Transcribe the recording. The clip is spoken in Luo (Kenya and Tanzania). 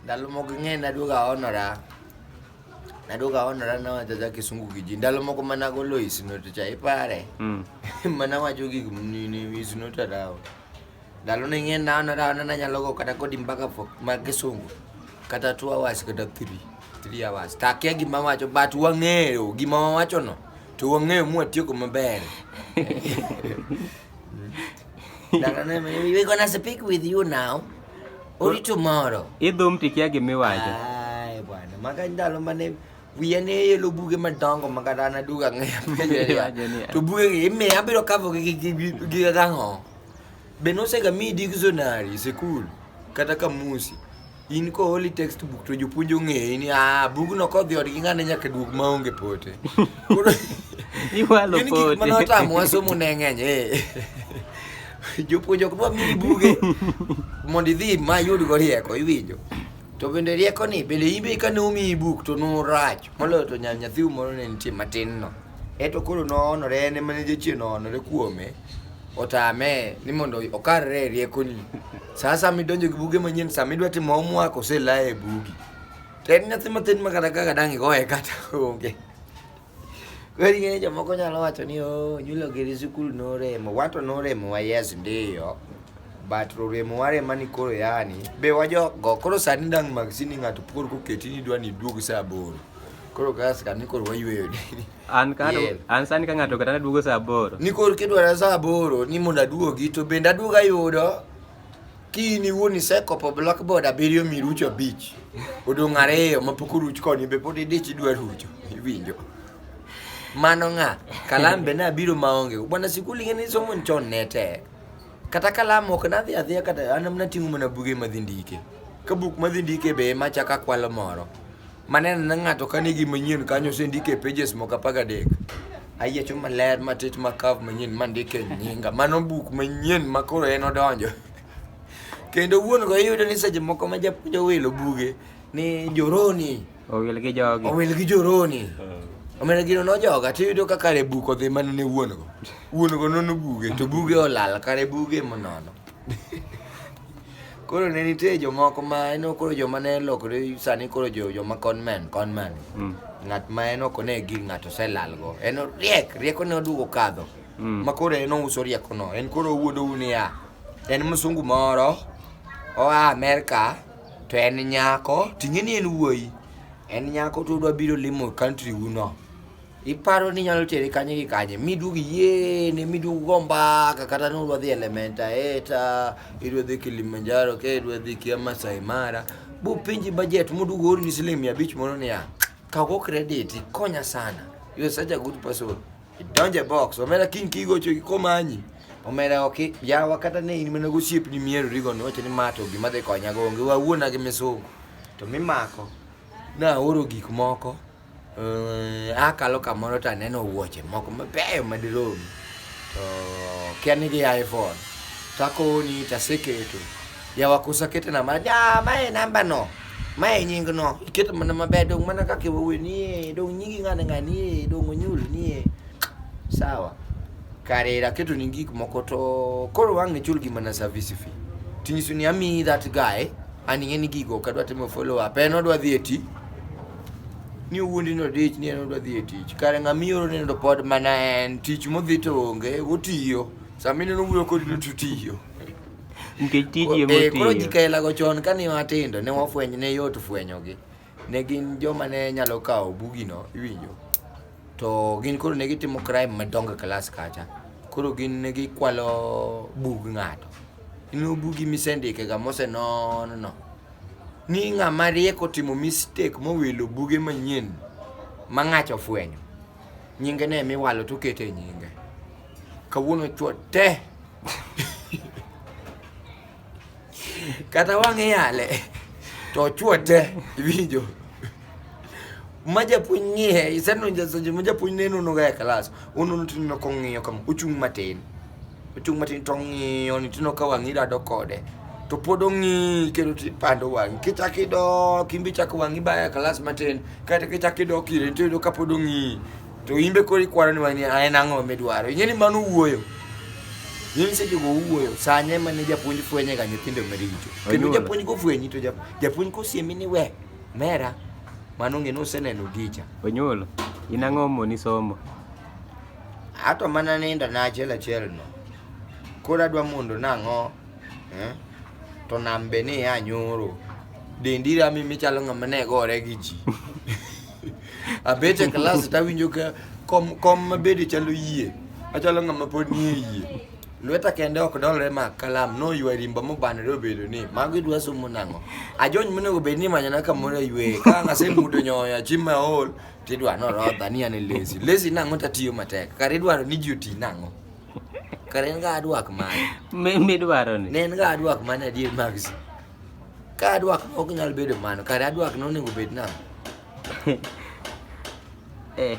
Ndalo moko ng'e naduogo aonora. Naduogo aonora nawacho ja kisungu gi ji. Ndalo moko mana golo isnote cha ipare. Mm. mana wacho gik nini isnote dawo. Ndalo ne ng'e naonora ona nanyalo go kata kodi mpaka fo- ma kisungu. Kata two hours kata three. Three hours. Takia gima wacho but wang'eyo gima wawachono. To wang'eyo mwatieko maber. We're gonna speak with you now. Only tomorrow. Idhum tikia gimiwacho. Ai bwana, maka ndalo mane wiya ne yelo buge madongo ma kata an aduogo ang'eyo to bugegi imiya abiro kavogi gi ang'o be nosegamiyi dictionary e sikul kata kamusi In ko holy textbook to jopuonj ong'eyi ni ah bugno kodhi odgi ng'ane nyaka duog maonge pote. Koro Iwalo gin gik pote. mane otamowa somo ne ng'eny eh. Jopuonj ok dwa miyi buge mondo idhi ma yudgo rieko iwinjo. To bende rieko ni bende in be kane omiyi buk to norach moloyo to nya- nyathiu moro ne nitie matin no. Eto koro noonore en ema ne jachien oonore kuome otame ni mondo okarre e riekoni. Sa asaya midonjo gi buge manyien, sama idwa timo homework oselaye e bugi. To en nyathi matin ma kata kaka dang' igoye kata onge. Koro ing'eyo jomoko nyalo wacho ni oh, nyulo giri sikul noremo. Wato noremowa yes ndiyo. But roremo warema ni koro yani. Be wajogo koro sani dang' maksini ng'ato koro koketi ni idwa ni iduog sa aboro. Koro gas ka nikor wayweyo dini. An ka yeah. an sani ka ng'ato kata naduogo saa aboro. Nikor kidwara saa aboro ni mondo aduogi to bende aduoga yudo kini in iwuon isekopo blackboard abiriyo mirucho abich odong' ariyo mapok oruch koni be pod idich idwa rucho iwinjo mano ng'a kalam be nabiro maonge bwana sikul ing'e ni somo chon ne tek kata kalam ok nadhi adhiya kata an nating'o mana buge madhi ndike ka buk madhi ndike be machaka kwalo moro Maneno na ng'ato ka nigi manyien kanyo osendike pages moko apar gadek. Ayiecho maler matit ma curve manyien mandike nyinga. Mano buk manyien ma koro en odonjo. Kendo wuon go iyudo ni seche moko ma japuonj owilo buge ni joroni Owil gi jogi. owil gi joroni. Omena gino nojoga to iyudo ka kare buk odhi mana ne wuon go. Wuon go nono buge to buge olal kare buge monono. Koro ne nitie jomoko ma en koro joma ne lokore sani koro jo joma conman conman. Mm. Ng'at ma en ok ne gir ng'ato oselalgo. En riek, rieko ne oduogo kadho. Mm. Ma koro en ouso riekono. En koro owuondo u niya. En msungu moro oa Amerka to en nyako ting'e ni en wuoyi. En nyako to odwa biro limo country uno. Iparo ni inyalo tere kanye gi kanye? Miduog yiene, miduog go mbaka, kata ni udwa dhi Elementa Eta, idwa dhi Kilimanjaro, ke idwa dhi kia Masai Mara. Bupenji budget moduog orni siling mia abich moro niya, kago credit, ikonya sana. You are such a good person. Idonjo e box, omera kiny kigocho komanyi. Omera ok yawa kata ne in mana gosiepni mierorigo niwacho ni ma to gima dhi konyago onge wawuona gi misungu. To mimako, naoro gik moko. Eh, akalo kamoro to aneno wuoche moko mabeyo madirom to kia ni gia iphone to akoni to aseketo yawa koso akete na ma ja ma e namba no ma e nying no iketo mana maber dong mana kaka iwuoyo nie dong nyingi ng'ane ng'anie dong onyul nie sawa kare aketo ni gik moko to koro wang' ichul gi mana service fee tinyiso ni amiyi that guy aning'e ni gigo ok adwa timo follow up en odwa dhi e ti ni wuondi no dich ni en odwa dhi e tich kare ng'a mioro ni to pod mana en tich modhi to onge otiyo sama ineno wuoyo kodi ni to tiyo nikech tiji ema otiyo eh, koro ji kaela go chon kane watindo ne wafwenyo ne yot fwenyogi ne gin joma ne nyalo kawo bugino iwinjo to gin koro ne gitimo crime madongo klas e kacha koro gin ne gikwalo bug ng'ato ineno bugi misendike ga mosenon no Ni ng'ama riek otimo mistake mowilo buge manyien ma ng'acha ofwenyo. Nyinge ne miwalo to okete nyinge. Kawuono chwo te. Kata wang'e yale to chwo te iwinjo. Ma japuonj ng'iye isenonjo sonjo ma japuonj neno noga e klas. Ununo tineno kong'iyo kama ochung' matin. Ochung' matin to ong'iyo ni tino ka wang'i rado kode. To pod ong'i kendo tipando wang'i. Kichak idok, in be ichak wang'i baya kalas matin. Kata kichak idok ire to iyudo ka pod ong'i. To in be koro ikwaro ni wang'i a en ang'o midwaro. Ing'e ni mano wuoyo. In seche go wuoyo, sanye mane japuonj fwenye ga nyithindo maricho. Kendo Onyuola. japuonj kofwenyi to jap- japuonj kosiemi ni we, mera, mano ng'e ni useneno gicha. Onyuol, in ang'o moni somo? Ato mana ninda na achiel achiel no. Koro adwa mondo nang'o? Eh? To nam be ni ya nyoro. Dendi rami michalo ng'ama ne gore gi ji. Abet e klas to awinjo ka kom kom mabede chalo yie. Achalo ng'ama pod nie yie. Lweta kende ok dolre ma kalam no ywa rimba mobanore obedo ni mago idwa somo nang'o. Ajony monego bed ni manyana kamoro e ywe. Ka ng'ase mudo nyoya chima ol Tidwa no rodha ni ane lesi. Lesi nang'o tatiyo matek. Kare idwaro ni ji oti nang'o. Kare en ga adwak mane. Mi- midwaro ni Ne en ga adwak mane adier magsi. Ka adwak ma ok nyal bedo mano, kare adwak no onego bed nang'o. eh,